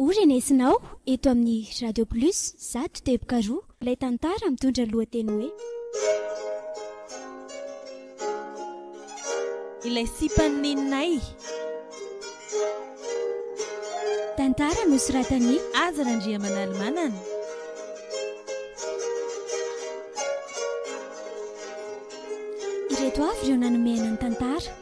Ho renesinao eto amin'ny Radio Plus zato teboka roa ilay tantara mitondra ny lohateny hoe Ilay sipan'i Neninay. Tantara nosoratan'i Azy Randriamanalimanana. Ireto avy ireo nanome aina ny tantara.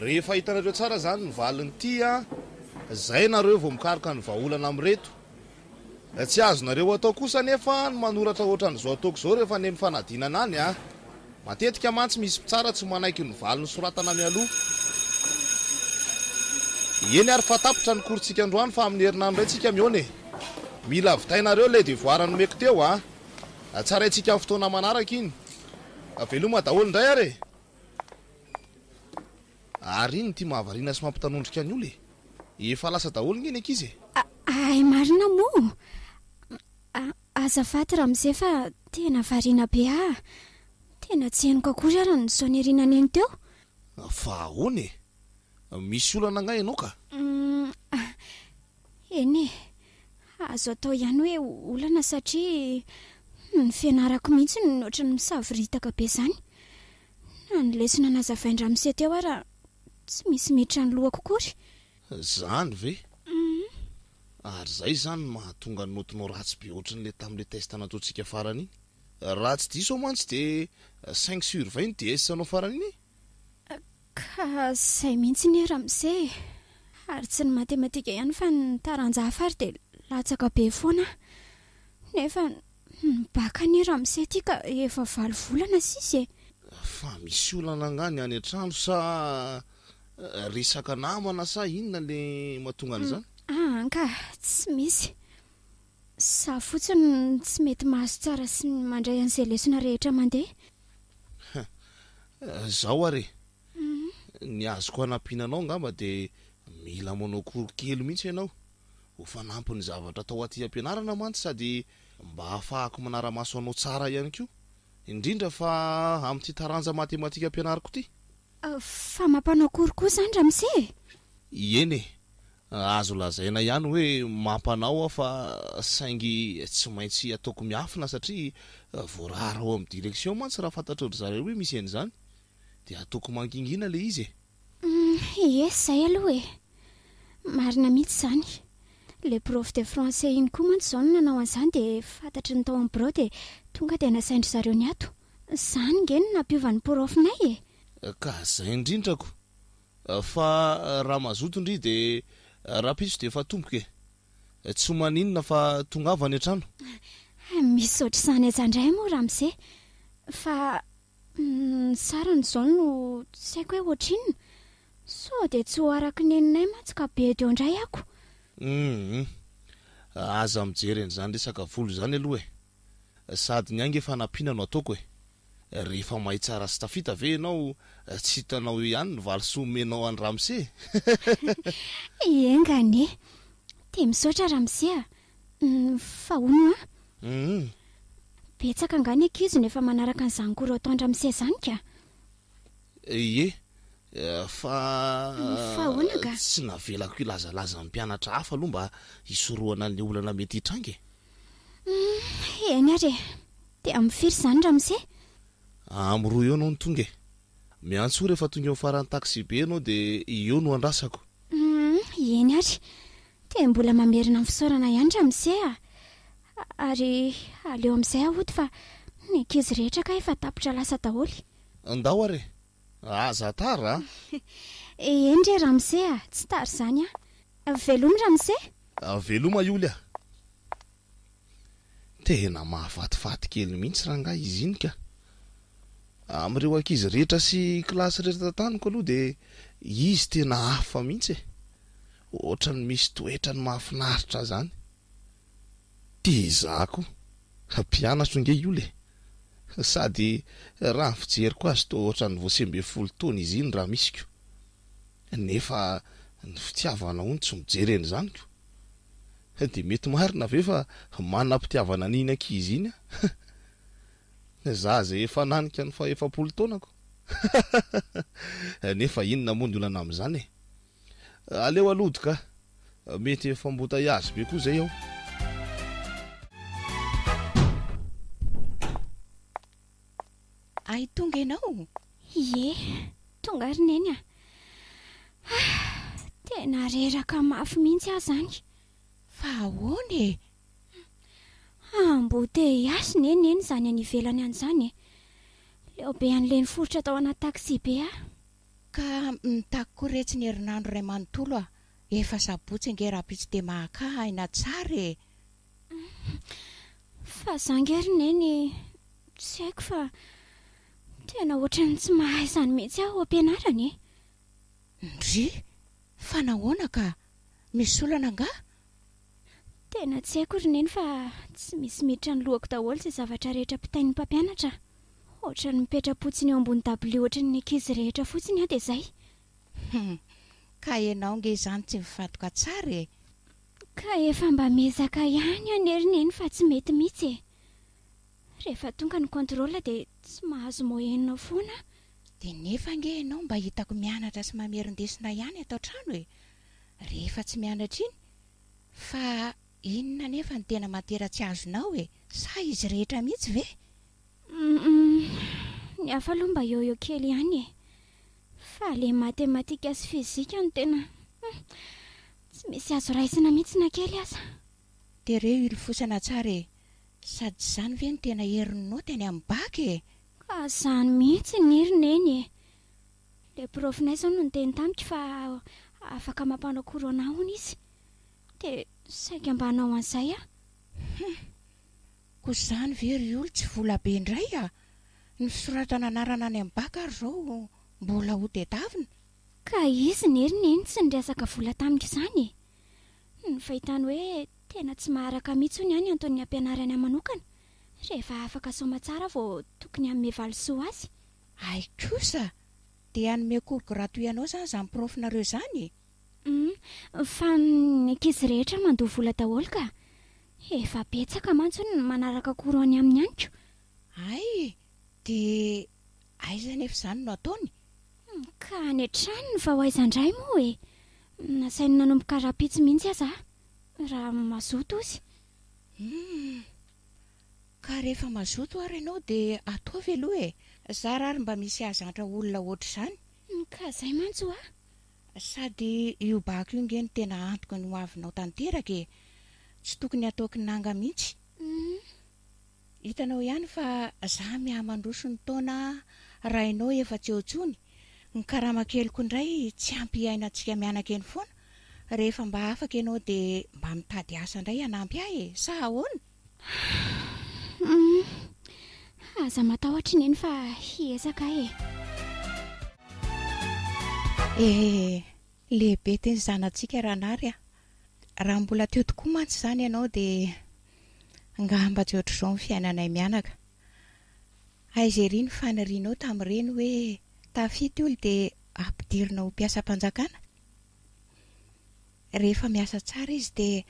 Rehefa hitanareo tsara zany ny valin'ity a, zay nareo vao mikaroka ny vahaolana amin'ireto. Tsy azonareo atao kosa anefa ny manoratra ohatran'izao ataoko izao rehefa any amin'ny fanadinana any a. Matetika mantsy misy mpitsara tsy manaiky ny valiny soratana mialoha. Eny ary fa tapitra ny cours-tsika androany fa amin'ny herinandro indray tsika mihaona e. Mila vitainareo ilay devoir nomeko teo a. Tsaraintsika amin'ny fotoana manaraka iny. Veloma daholo indray ary e. Ary iny ity mahavariana sy mampitanondrika ny ola e! Efa lasa daholo nge ny ankizy e! Ay marina moa! Azafady ramose fa tena variana be aa! Tena tsy henoko akory ary ny sonerinao neny teo! Fa ahoana e! Misy olana angaha ianao ka? Humm Eny e, azo atao ihany hoe olana satria ny fianarako mihitsy no ohatran'ny misavoritaka be izany. Na ny lesona nazavain-dRamose teo ara tsy misy miditra ny lohako akory. Izany ve? Ary izay izany no mahatonga ny notinao ratsy be ohatran'ny ilay tamin'ilay test nataontsika farany iny. Raha tsy diso aho mantsy dia cinq sur vingt iny DS-nao farany iny e? Ka izay mihitsy ny ramose e! Ary tsy ny matematika ihany fa ny taranja hafa ary dia latsaka be foana aho. Nefa ny bac anie ramose ity ka efa valo volana sisa e! Fa misy olana angaha ny any an-trano sa resaka namana sa inona ilay mahatonga an'izany? Aa angaha tsy misy. Za fotsiny no tsy mety mahazo tsara sy mandray an'izay lesona rehetra mandeha. Hum, zao ary e! Ny azoko hanampiana anao angamba dia mila manao cours kely mihitsy ianao, ho fanampin'ny zavatra atao aty am-pianarana mantsy sady mba hahafahako manara-maso anao tsara ihany koa, indrindra fa amin'ity taranja matematika ampianariko ity. Fa mampanao cours koa izany ramose e? Ieny e! Azo lazaina ihany hoe mampanao aho fa saingy tsy maintsy ataoko miafina satria voarara ao amin'ny direction mantsy raha fantatrao-dry zareo hoe misy an'izany dia ataoko mangingina ilay izy e! Humm ie zay aloha e! Marina mihitsy izany. Ilay prof de français iny koa mantsy izao no nanao an'izany dia fantatry ny tao amin'ny birao dia tonga dia nasain-dry zareo niato. Izany nge no nampiova ny prof-nay e! Ka izay indrindrako! Fa raha mazoto ndry de rahampitso de efa tompoko e! Tsy ho maninona fa tongava any an-trano. Misaotra izany aza ndray moa ramose fa ny sarany izao no tsy haiko hoe ohatrinona? Sao dia tsy ho araka ny neninay mantsy ka be eo ndray ako. Humm aza mijery an'izany resaka vola izany aloha e! Sady ny ahy nge fanampiana no ataoko e! Rehefa mahay tsara sy tafita ve ianao tsy hitanao eo ihany ny valisoa omenao an'i Ramse? Enga anie! Dia misaotra Ramse a! Fa hono hoa? Humm. Betsaka angaha ny ankizy no efa manaraka an'izany cours ataon-dRamse izany ka? Ie. Fa Fa ahoana angaha? tsy navelako hilazalaza ny mpianatra hafa aloha mba hisorohana ny olana mety hitranga e! Humm eny ary e! Dia amin'ny firy izany ramose? Amin'ny roa eo ianao no tonga e! Miantsoa rehefa tonga eo amin'ny faran'ny taxibe ianao dia eo no andrasako. Humm eny ary! Dia mbola mamerina ny fisaorana ihany ramose a! Ary aleo amin'izay hody fa ny ankizy rehetra kay efa tapitra lasa daholo. Ndao ary e! Aza tara a! Eny re ramose a! Tsy tara izany a! Velomy ramose! Veloma ioly a! Tena mahafatifaty kely mihitsy rangahy izy iny ka! Amin'ireo ankizy rehetra sy kilasy rehetra taniko aloha dia izy tena hafa mihitsy e! Ohatran'ny misy toetrany mahafinaritra izany! Dia izaho koa hampianatro ange io le! Sady raha ny fijeriko azy toa ohatran'ny vao sivy ambin'ny folo taona izy iny raha misy ko! Nefa ny fitiavana hono tsy mijery an'izany ko! Dia mety marina ve fa manam-pitiavana an'iny ankizy iny aho? Za izay efa nanika ny fahefapolo taonako? Nefa inona moa ny olana amin'izany e! Aleo alody ka! Mety efa embouteillage be koa zay ao. Ay tonga ianao? Ie, tonga ary Neny a! Ah! Tena reraka mafy mihitsy aho zany! Fa ahoana e? Embouteillage ne Neny zany any ivelany any zany e! Leo be an'le niforitra tao anaty taxi be aho! Ka mitaky koa re tsy ny herinandro iray manontolo a! Efa sabotsy ange rahampitso dia mahakà aina tsara e! Fa za ange ry neny tsy haiko fa tena ohatran'ny tsy mahay izany mihitsy aho ampianarana e! Ndrii! Fa nahoana ka? Misy olana angaha? Tena tsy haiko ry Neny fa tsy misy miditra ny lohako daholo izay zavatra rehetra pitain'ny mpampianatra a! Ohatran'ny mipetra-potsiny eo ambony dabilio ohatran'ny ankizy rehetra fotsiny aho dia izay. Hum, ka ianao nge izany tsy mifantoka tsara e! Ka efa mba miezaka ihany anie ry Neny fa tsy mety mihitsy e! Rehefa tonga ny contrôle dia tsy mahazo moyenne foana aho. Dia nefa ange ianao mba hitako mianatra sy mamerin-desona ihany ato an-trano e! Rehefa tsy mianatra iny Fa inona anefa no tena materatsy azonao e? Sa izy rehetra mihitsy ve? Humm, ny hafa aloha mba yoyo kely ihany e. Fa ilay matematika sy fizika no tena humm, tsy misy azo raisina mihitsy na kely aza. Tereo hilofosana tsara e! Sady tsy izany ve no tena herin'ny naoty any amin'ny bac e? Ka izany mihitsy ny ry Neny e! Ilay profnay izao no niteny tamiko fa afaka mampanao corona hono izy. Dia saika mba hanao an'izay aho. Hum. Koa izany ve ry Oly tsy vola be indray a! Ny fisoratana anarana any amin'ny bac ary izao mbola ho tedavina. Ka izy nge ry Neny tsy niresaka vola tamiko izany e! Ny fahitany hoe tena tsy maharaka mihitsy hono ihany anton'ny hampianarany ahy manokana rehefa afaka soamantsara vao tokony hanome valisoa azy. Hay kosa! Dia hanome cours gratuit anao izany izany prof nareo izany e! Humm, fa ny ankizy rehetra mandoa vola daholo ka! Efa betsaka mantsy ny manaraka cours any aminy any ko! Hay e! Dia aiza anefa izany no ataony? Ka any an-trano ny vao aiza indray moa e! Nasainy nanomboka rahampitso mihitsy aza aho, raha mazoto ozy! Humm! Ka rehefa mazoto ary ianao dia ataovy aloha e! Zara ary mba misy hahazantra olona ohatr'izany! Humm ka zay mantsy hoa! Sady io bako io nge no tena antoky ny hoavinao tanteraka e! Tsy tokony hatao kinanga mihitsy! Humm hitanao ihany fa za miaha mandroso ny taona raha ianao efa tsy eo intsony, ny karama keliko indray tsy ampy hiainantsika mianakeny foana, rehefa mba afaka ianao dia mba mitady asa indray hanampy ahy e! Sa ahoana? Humm aza matahotra i Neny fa hiezaka aho e. Ee, lehibe teny zanatsika Ranary a! Raha mbola teo tokoa mantsy izany ianao dia angamba tsy ohatr'izao ny fiainanay mianaka. Aiza ery ny fanirianao tamin'ireny hoe tafita io dia ampidirina ho mpiasam-panjakana? Rehefa miasa tsara izy dia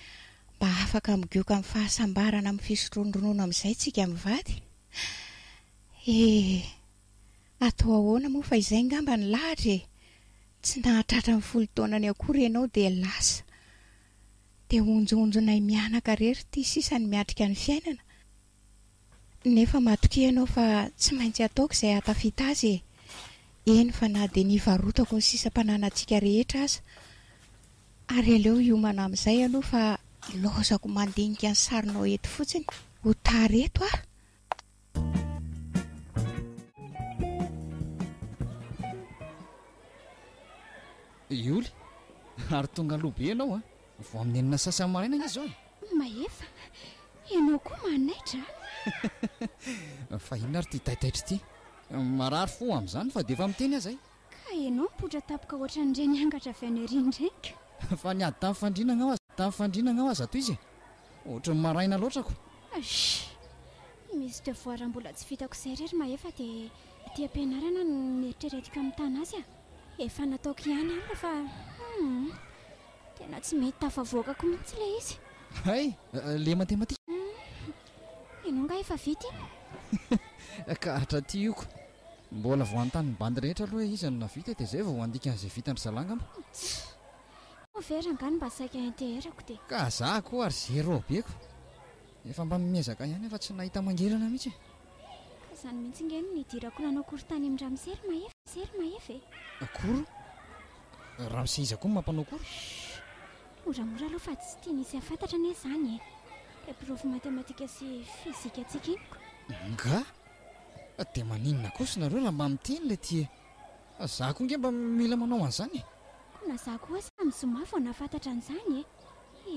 mba afaka migioka amin'ny fahasambarana amin'ny fisotroan'ny ronono amin'izay isika mivady. Eh, atao ahoana moa fa izay ngamba ny lahatra e! Tsy nahatratra ny folo taonany akory ianao dia lasa. Dia honjohonjonay mianaka rery ity sisa ny miatrika ny fiainana. Nefa matokia ianao fa tsy maintsy ataoko izay hahatafita azy e! Eny fa na dia nivarotako ny sisa mpananantsika rehetra aza! Ary aleo hiomana amin'izay aloha fa ilaozako mandinika ny sarinao eto fotsiny! Ho tara eto aho! Ioly, ary tonga aloha be ianao an! Vao amin'ny enina sasany maraina anie izao e! Mahefa, ianao koa manaitra a! Fa inona ary ity taitaitra ity? Marary fo amin'izany fa dia efa miteny aza e! Ka ianao mipoitra tampoka hoatran'ireny angatra avy any aoriana ireny ka! Fa ny ady tamin'ny fandriana angamba aza, tamin'ny fandriana angamba aza tohizo e! Ohatran'ny maraina loatra ko! Achh! Misy devoir mbola tsy vitako izay re ry Mahefa dia aty am-pianarana no eritreretiko hamitana azy a! Efa nataoko ihany alina fa hum! Tena tsy mety tafavoaka ko mintsy ilay izy. Hay! Le matematika. Humm. Ianao nga efa vita iny? Ka hatraty io ko. Mbola vao hanontany bandy rehetra aloha hoe iza no nahavita dia zay vao handika an'izay vitan-dry zalahy angamba. Tch. Moa ve rangano mba saika hinteherako dia. Ka za ko ary zéro be ko. Efa mba miezaka ihany aho fa tsy nahita mangirana mintsy e. Ka zany mintsy nge no nidirako nanao cours tany amin-dRamisery Mahefa e. Akory. Ramose iza koa no mampanao akory? Moramora aloha fa tsy tiany hisy hafantatra anie izany e! Ilay profo matematika sy fizika tsy kiniko. Ngah! Dia maninona kosa nareo raha mba miteny ilay ty e! Za koa nge mba mila manao an'izany e! Koa na za koa aza amin'ny zoma vao nahafantatra an'izany e!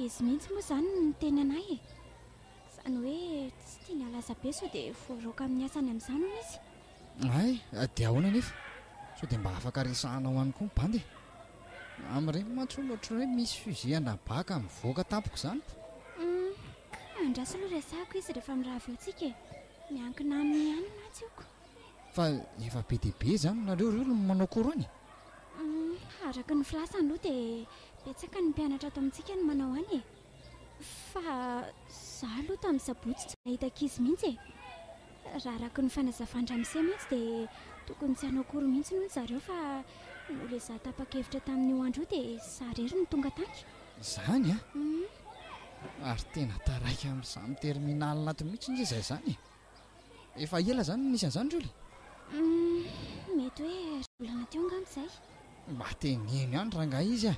Izy mihitsy moa izany no niteny anay e! Izany hoe tsy tiany halaza be sao dia voaraoka amin'ny asany amin'izany hono izy. Hay, dia ahoana anefa? Sao dia mba afaka resahanao any koa ny bandy e? Amin'ireny mantsy hono ohatran'ny hoe misy fusils à nabaka mivoaka tampoka izany ko! Humm! Andraso aloha resahako izy rehefa mirava eo tsika e! Miankina aminy ihany mantsy io ko! Fa efa be dia be izany nareo ireo no manao cours any e? Humm! Araka ny filasany aloha dia betsaka ny mpianatra ato amintsika no manao any e! Fa izaho aloha tamin'ny sabotsy tsy nahita ankizy mihitsy e! Raha araka ny fanazavan-dRamose mihitsy dia tokony tsy hanao akory mihitsy hono zareo fa noho ilay izaho tapa-kevitra tamin'io andro io dia izaho irery no tonga tany. Izany an! Ary tena taraiky amin'izany terminal ato mihitsy nge izahay izany e! Efa ela izany no nisy an'izany Julie? Humm, mety hoe roa volana teo angamba izay. Mba teneno ihany rangahy izy a!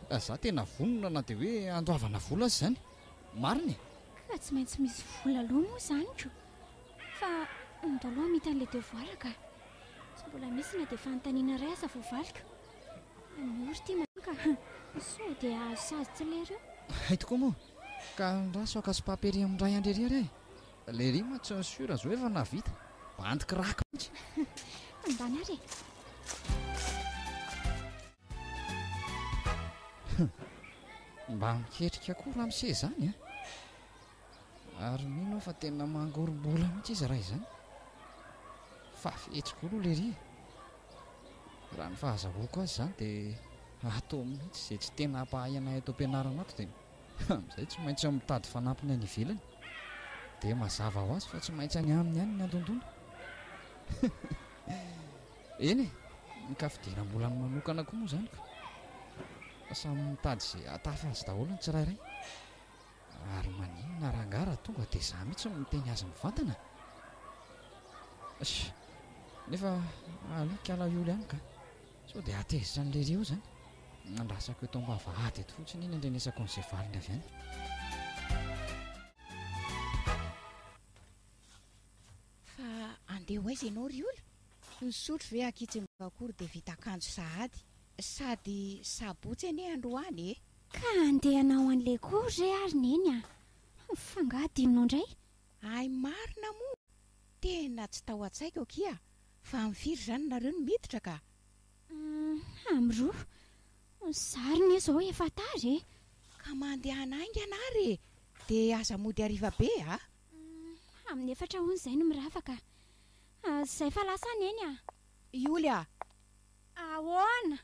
Fa izaho tena vonona na dia hoe handoavana vola aza izany. Marina e! Fa tsy maintsy misy vola aloha moa izany ko! Fa andao aloha hamita an'ilay devoir ka! Tsy mbola misy na dia fanontaniana iray aza voavaliko. Anio ry tim aloha ka! Sao dia hahazo sazy tsy lery eo. Hay tokoa moa! Ka andraso haka sopaperium iray handre irery aho e! Ilay rima tsy ny sur zao efa nahavita. Bandy crack mihitsy. Tandany ary e. Mba miketrika koa ramose izany a! Ary mino aho fa tena mangorom-bola mihitsy izy raha izany. Fa fetsy koa aloha lery e! Raha ny fahazahoako azy izany dia ato mihitsy izay tsy tena hampahay anay ato am-pianarana ato dia Amin'izay tsy maintsy mitady fanampiny any ivelany. Dia mazava ho azy fa tsy maintsy any aminy any ny handondona. Eny e, ny kafidianam-bolany manokana koa moa izany ka. Fa samy mitady izay hahatafa azy daholo ny tsirairay. Ary maninona rangahy raha tonga dia izaho mihitsy no miteny azy mivantana? Sh! Nefa aleo kalaioly ihany ka. Sao dia hatezitra an'i Lery eo zany? Andrasako eto ambavahady eto fotsiny iny andrenesako an'izay valiny avy any. Fa andeha ho aiza ianao ry Ola? Nisotro ve ankitsingba akory dia vita akanjo sahady? Sady sabotsy anie androany e! Ka andeha hanao an'i Lery koa re ary Neny a! F'angaha adinonao indray? Hay marina moa! Tena tsy tao an-tsaiko akia Fa am firy zany nareo no miditra ka? Hum am roa. Zary ne zao efa tara e. Ka mandehana haingana ary e, de aza mody hariva be a. Hum amin'ny efatra hono zay no mirava ka. Zay fa lasa an eny a. Ioly a! Ahoana?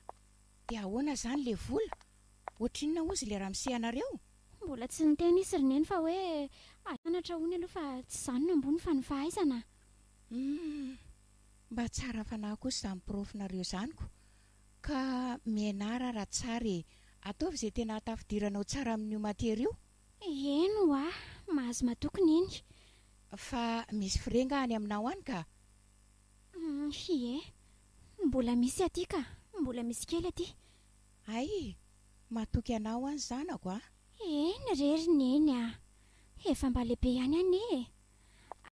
De ahoana zany le vola? Ohatrinona hozy le ramose anareo? Mbola tsy niteny izy ry neny fa hoe, Anatra hono aloha fa tsy zany no ambony fa ny fahaizana a. Humm! Mba tsara fanahy kosa izany porofonareo izany ko! Ka mianara raha tsara e! Ataovy izay tena hahatafidiranao tsara amin'io matiera io! Eny oa! Mahazo matoky neny! Fa misy frais nga any aminao any ka? Humm! Ie! Mbola misy aty ka! Mbola misy kely aty! Hay e! Matoky anao any zanako a! Eny re ry neny a! Efa mba lehibe ihany anie e!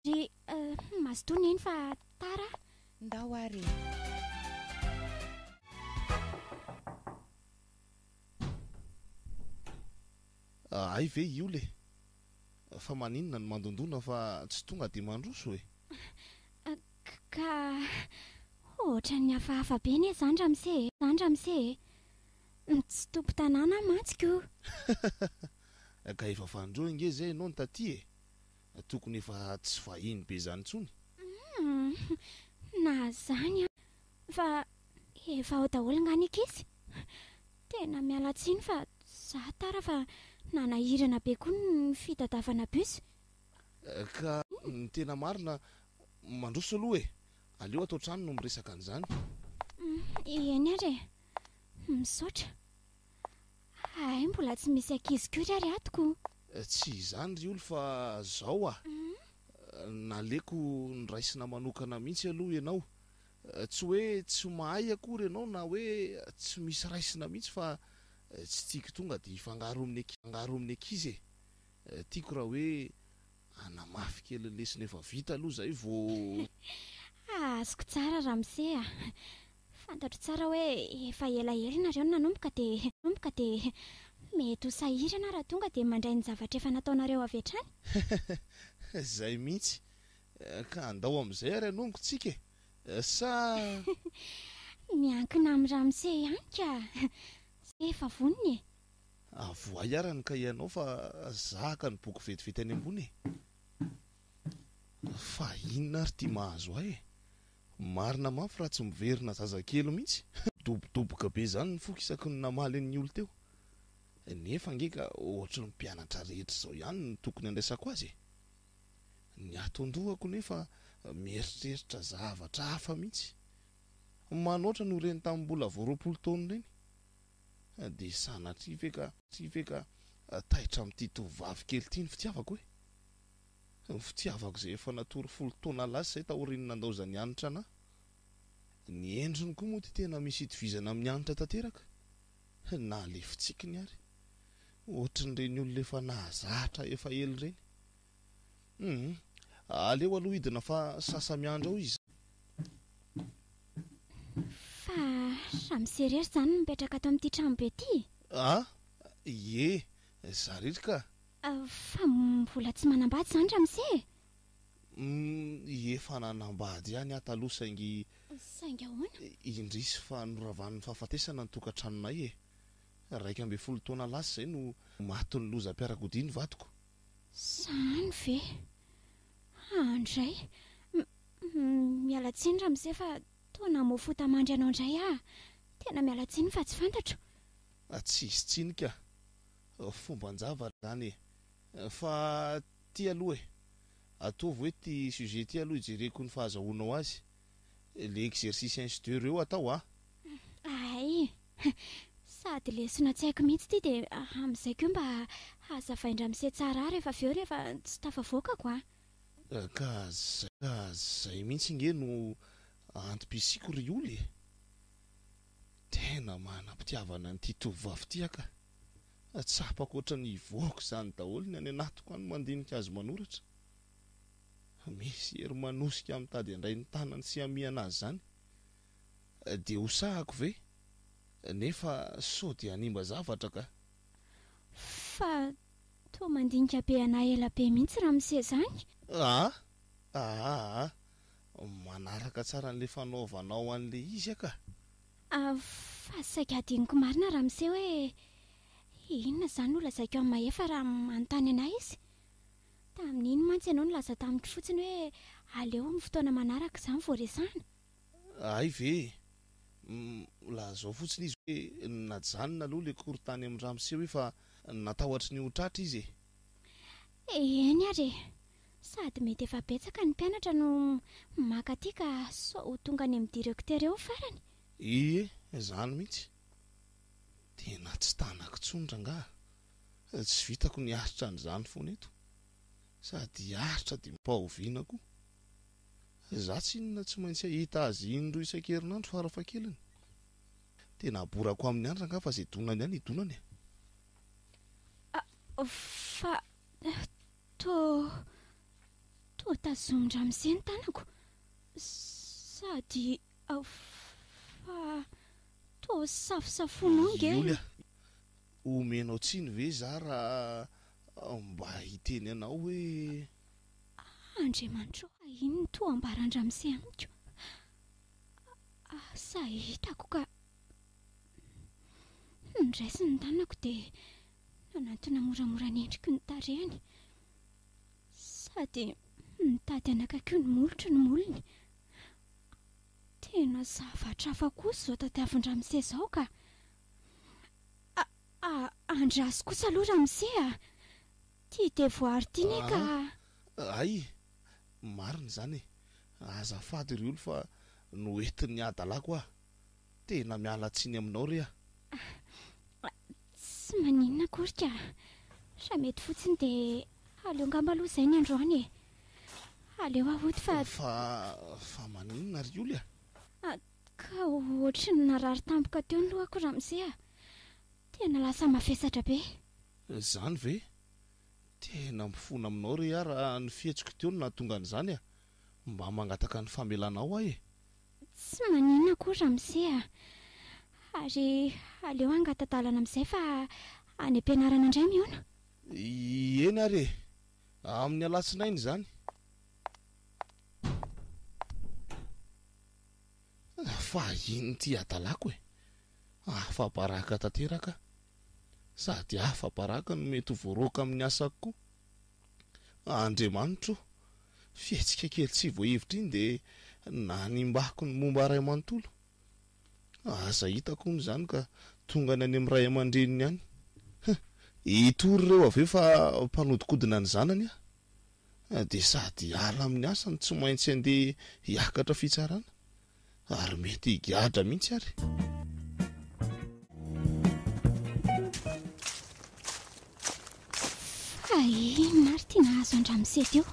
Ary humm mazotoa neny fa tara a! Ndao ary e! Hay ve io le! Fa maninona no mandondona fa tsy tonga dia mandroso e! Ka ohatran'ny hafahafa be anie zany ramose e! Zany ramose e! Tsy tompon-tanàna aho mantsy ko! Ka efa fanindroa ange zay ianao no taty e! Tokony efa tsy vahiny be izany intsony. Humm na zany an! Fa efa ao daholo nga ny ankizy? Tena miala tsiny fa za tara fa nanahirana be koa ny fitadiavana bus. Ka ny tena marina, mandroso aloha e! Aleo ato an-trano no miresaka an'izany. Eny ary e! Misaotra. Hay mbola tsy misy ankizy kory ary ato ko. Tsy izany ry oul fa zao ah naleko noraisina manokana mihitsy aloha ianao. Tsy hoe tsy mahay akory ianao na hoe tsy misy raisina mihitsy fa tsy tiako tonga dia hifangaro amin'ny ankizy e. Tiako raha hoe. Hanamafy kely ny lesona efa vita aloha izay vao. Ah, azoko tsara ramose a! Fantatro tsara hoe efa elaela ianareo no nanomboka dia nanomboka dia mety ho sahirana raha tonga dia mandray ny zavatra efa nataonareo avy hatrany. Izay mihitsy. Ka andao amin'izay ary hanongontsika e! Sa. Miankina amin'i ramose ihany ka! Sa efa vonona e! Avoahy ara ny kahie anao fa zahaka ny boky vetivety any ambony e! Fa inona ary ity mahazo ahy e! Marina mafy raha tsy miverina zazakely mihitsy. Midobodoboka be izany ny foko isaky ny namaly an'iny olona teo. Nefa ange ka ohatry ny mpianatra rehetra izao ihany no tokony handraisako azy e! Ny ato an-dohako nefa mieritreritra zavatra hafa mihitsy. Manoatra noho ireny tamin'ny mbola vao roapolo taona ireny. Dia sanatria ve ka, tria ve ka taitra amin'ity tovovavy kely ity ny fitiavako e? Ny fitiavako izay efa natory folo taona lasa izay taorian'ny nandaozan'i Hanitra anà. Ny endriny koa moa dia tena misy itovizana amin'i Hanitra tanteraka, na ilay fitsikiny ary. Ohatrin'ireny olona efa nahazatra efa ela ireny. Humm. Aleo aloha hidina fa sasa miandry ao izy. Fa samy sy irery izany no mipetraka ato amin'ity tranobe ity e? Ah, ie. Za irery ka. Fa mbola tsy manambady izany ramose e? Humm, efa nanambady ihany aho taloha saingy. Saingy ahoana? Indrisy fa noravan'ny fahafatesana ny tokantranonay e. Iraika ambin'ny folo taona lasa izay no matin'ny lozam-piarakodia ny vadiko. Zany ve? Handray. Miala tsiny ramose fa toa namoa fo tamandry anao indray aho. Tena miala tsiny fa tsy fantatro. Tsy hisy tsiny ka. Fomban-java izany e. Fa ity aloha e. Ataovy hoe ity sujet ity aloha hijereko ny fahazahoanao azy. le exercice inch de reo atao a. Hay! Sady lesona tsy haiko mihitsy ity dia amin'izay koa mba hazavain-dRamose tsara ahy rehefa avy eo rehefa tsy tafavoakako a! Ka zay ka zay mihitsy nge no antom-pisiako ry oul e! Tena manam-pitiavana an'ity tovovavy ity aho ka! Tsapako ohatran'ny hivoaka izany daholo ny any anatiko any mandinika azy manoratra. Misy hery manosika mitady handray ny tanany sy hamihana azy izany. Dia hosahako ve? Nefa sao dia hanimba zavatra kah. Fa toa mandinika be anah ela be mihitsy raha miseza any. Aa! Aa! Manaraka tsara an'ilay fanaovanao an'ilay izy aho kah. Fa saika hadinoko marina raha miseho hoe inona izany no lazaiko amin'i Mahefa raha manontany anah izy. Tamin'iny mantsy ianao nilaza tamiko fotsiny hoe aleo amin'ny fotoana manaraka izany vao resahina. Hay ve e! Lazao fotsiny izy hoe najanona aloha ilay cours tany amin'ny ramose hoe fa natahotry ny ho tratra izy e! Eny ary e! Sady mety efa betsaka ny mpianatra no maka aty ka sao ho tonga any amin'ny directeur eo ny farany. Ie, izany mihitsy! Tena tsy tanako intsony rangaha. Tsy vitako ny hiaritra an'izany foana eto sady hiaritra dia mba oviana koa? Izaho tsy inona tsy maintsy hahita azy indroa isan-kerinandro farafahakeliny. Tena haborako aminy andra angaha fa izay donany ihany hidonany e! Ah, fa toa, toa tazomin-dramose ny tanako sady fa toa safosafoinao ange. Iolia, Omenao tsiny ve za raha mba hiteny anao hoe. Ah Andriamanitra ô ah inn no toa ambaran-dRamose amiko ah sa hitako ka Humm niraisiny ny tanako dia nanantona moramora ny endriko ny tarehiny sady nitady hanakaiky ny molotro ny molony Tena zavatra hafa kosa izao tadiavin-dRamose izao ka. A, a, andraso kosa aloha Ramose a! Ity devoara ity ne ka. A, hay, marina izany e! Azafady ry Olo fa noentin'ny hadalako aho. Tena miala tsiny aminao re a! A, tsy maninona akory ka! Raha mety fotsiny dia aleo angamba aloha izay ny androany e! Aleo hahody fa. Fa, fa maninona ry Oly a? A, Ka ohatry ny narary tampoka teo ny lohako ramose a! Tena lasa mavesatra be. Zany ve? Tena mifona aminao re ah raha ny fihetsiko teo no nahatonga an'izany ah! Mba mangataka ny famelana ao aho e! Tsy maninona akory ramose a! Ary aleo hangata-dalana amin'izay fa any am-pianarana indray mihaona. Eny ary e! Amin'ny alatsinainy izany. Fa inn ity hadalako e! Afa baraka tanteraka sady afa baraka no mety ho voaroaka amin'ny asako koa. Andriamanitro o! Fihetsika kely tsy voahevitra iny dia nanimbako ny momba ray manontolo. Aza hitako hono izany ka tongany any amin'ny ray aman-dreniny any. Hum! Hitory ireo avy eo fa mpanodikodina ny zanany aho. dia sady hiala amin'ny asany, tsy maintsy handeha hiakatra fitsarana ary mety higadra mihitsy ary. Inona ary ty nahazo an-dRamisety io?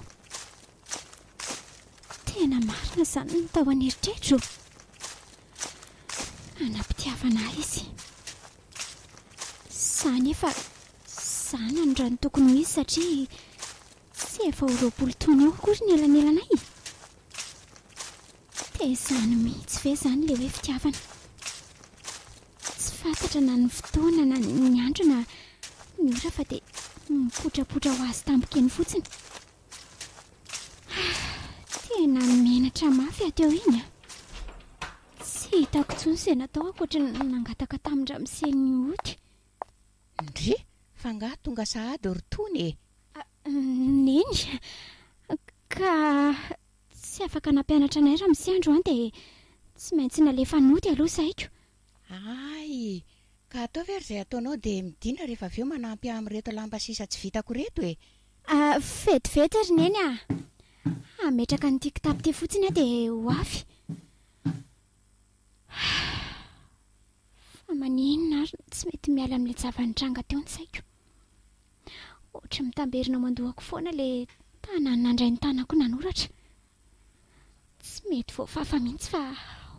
Tena marina izany ny tao an'eritreritro. Hanam-pitiavana ahy izy. Za anefa zanany raha ny tokony ho izy satria tsy efa ho roapolo taona eo akory ny elanelanay e. Tezano mihitsy ve zany le hoe fitiavana? Tsy fantatra na ny fotoana na ny andro na ny ora fa dia mipotrapotra ho azy tampoka eny fotsiny. Ah, tena menatra mafy ato eo iny a. Tsy hitako intsony izay natao ankoatry ny nangataka tamin-dRamose ny ody. Ndry! Fa angaha tonga sahady ry Tony e? Neny! Ka tsy afaka nampianatra anay Ramose androany dia tsy maintsy nalefa nody aloha saiko. Hay! Ka ataovy ary izay ataonao dia midina rehefa avy eo manampy amin'ireto lamba sisa tsy vitako ireto e! Vetivety ry Neny ah! Hametraka an'ity kitapo ity fotsiny aho dia ho avy. Fa maninona ary no tsy mety miala amin'ilay zava-nitranga teo ny saiko? Ohatry ny mitamberina ao aman-dohako foana ilay tanany nandray ny tanako nanoratra. Tsy mety voafafa mihitsy fa